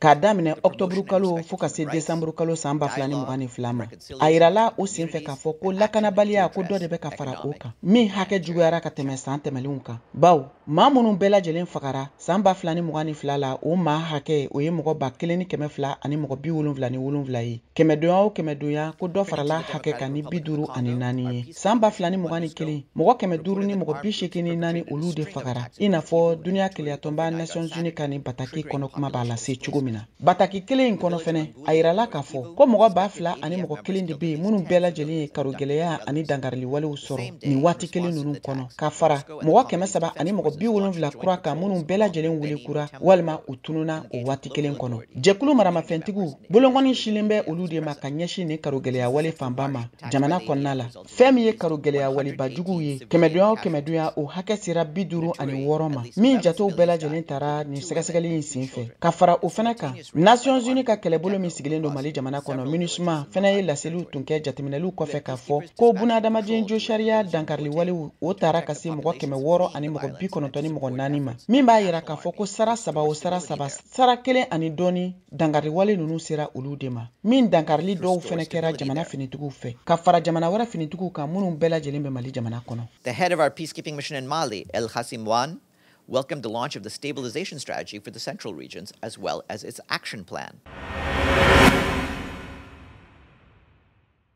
k'a daminɛ ɔktɔburu kalo fɔɔ ka se desanburu kalo san ba fila ni mugan ni fila ma a yirala o sen fɛ k'a fɔ ko lakanabaliya ko dɔ de bɛ ka fara o kan min hakɛ juguyara ka tɛmɛ san tɛmɛlenw kan baw maa minnu bɛɛ lajɛlen fagara san ba fila ni mugan ni fila la o maa hakɛ o ye mɔgɔ ba kelen ni kɛmɛ fila ani mɔgɔ bi wolonfila ni wolonfila ye kɛmɛdonya o kɛmɛdonya ko dɔ farala hakɛ kan ni bi duuru ani naani ye San ba fila ni mugan ni kelen mɔgɔ kɛmɛ duuru ni mɔgɔ bi seegin ni naani olu de fagara i n'a fɔ duniya kelenyatɔnba Nations Unies ka nin bataki kɔnɔ kuma b'a lase cogo min na. Bataki kelen in kɔnɔ fɛnɛ, a yirala k'a fɔ ko mɔgɔ ba fila ani mɔgɔ kelen de bɛ yen minnu bɛɛ lajɛlen ye karogɛlɛya ani dankariliwalew sɔrɔ nin waati kelen ninnu kɔnɔ, ka fara mɔgɔ kɛmɛ saba ani mɔgɔ bi wolonfila kura kan minnu bɛɛ lajɛlen wele kura walima u tununna o waati kelen kɔnɔ. Jɛkulu maramafɛntigiw bolonkɔni sinlen bɛ olu de ma ka ɲɛsin nin karogɛlɛya wale fanba ma. jamana kɔnɔna la fɛn min ye karogɛlɛya waleba juguw ye kɛmɛdonya o kɛmɛdonya o hakɛ sera bi duru ani wɔɔrɔ ma min jatew bɛɛ lajɛlen tara nin sɛgɛsɛgɛli in sen fɛ ka fara o fɛnɛ kan nations unies ka kɛlɛbolo min sigilen don mali jamana kɔnɔ minusma fɛnɛ ye laseliw tun kɛ jateminɛliw kɔfɛ k'a fɔ ko bunahadamaden josariya dankarili walew o tara ka se mɔgɔ kɛmɛ wɔɔrɔ ani mɔgɔ bi kɔnɔntɔn ni mɔgɔ naani ma min b'a yira k'a fɔ ko sara saba o sara saba sara kelen ani dɔɔni dankari wale ninnu sera olu de ma min dankarili dɔw fɛnɛ kɛra jamana finitigiw fɛ ka fara jamana wɛrɛ finitigiw kan minnu bɛɛ lajɛlen bɛ mali jamana kɔnɔ the head of our peacekeeping mission in mali el ghassim wane welcomed the launch of the stabilization strategy for the central regions as well as its action plan